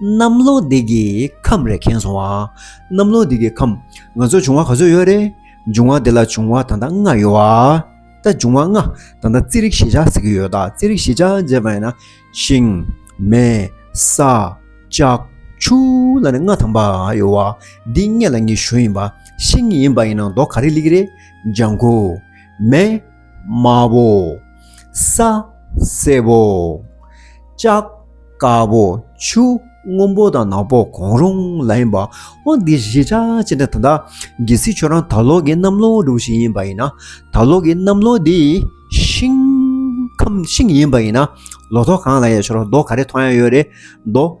གནམ་ལོ་འདི་གི་ཁམས་རེད་མཁྱེན་སོང་བ། གནམ་ལོ་འདི་གི་ཁམས་ང་ཚོར་འབྱུང་བ་ག་ཚོད་ཡོད་རེད། འབྱུང་བ་འདི་ལ་འབྱུང་བ་ད་ལྟ་ལྔ་ཡོད་བ། ད་འབྱུང་བ་ལྔ་ད་ལྟ་རྩིས་རིག་ཞེ་བྱ་ཟེར་གྱི་ཡོད་ད་རྩིས་རིག་ཞེ་བྱ་བྱས་པ་ཡིན་ན་ཤིང། མེ། ས། ལྕགས། ཆུ། ལ་ནི་ལྔ་ཐམ་པ་ཡོད་བ། འདི་ལྔས་ལ་ངེས་ཞོ་ཡིན་པ། ཤིང་ཡིན་པ་ཡིན་ན་མདོག་ག་རེ་ལེགས་རེད། ལྗང་ཁུ། མེ། དམར་བོ། ས་སེར་བོ། ལྕགས་དཀར་བོ། ཆུ་སྔོན་པོ་དང་ནག་པོ་གང་རུང་ལ་ཡིན་པ། འོན་ཏེ་གཞིས་ཆགས་ཅན་དེ་ད་ལྟ་རྒྱལ་སྲིད་ཆོས་རང་དར་ལོག་གི་གནམ་ལོ་སྒྲུང་ཞིག་ཡིན་པ་ཡིན་ན། དར་ལོག་གི་གནམ་ལོ་དེ་ཤིང། ཁམས་ཤིང་ཡིན་པ་ཡིན་ན། ལོ་ཐོག་གང་ལ་ཡལ་ཆོག་རོགས་མདོག་ག་རེ་མཐོང་ཡ་ཡོད་རེད་མདོག།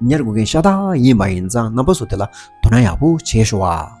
ཉར་དགོས་མཁན་ཤ་སྟག་ཡིན་མ་ཡིན་ཙང་རྣམ་པ་སོ་དེ་ལ་དོ་སྣང་ཡག་པོ་བྱེད་ཤོག་ཨ།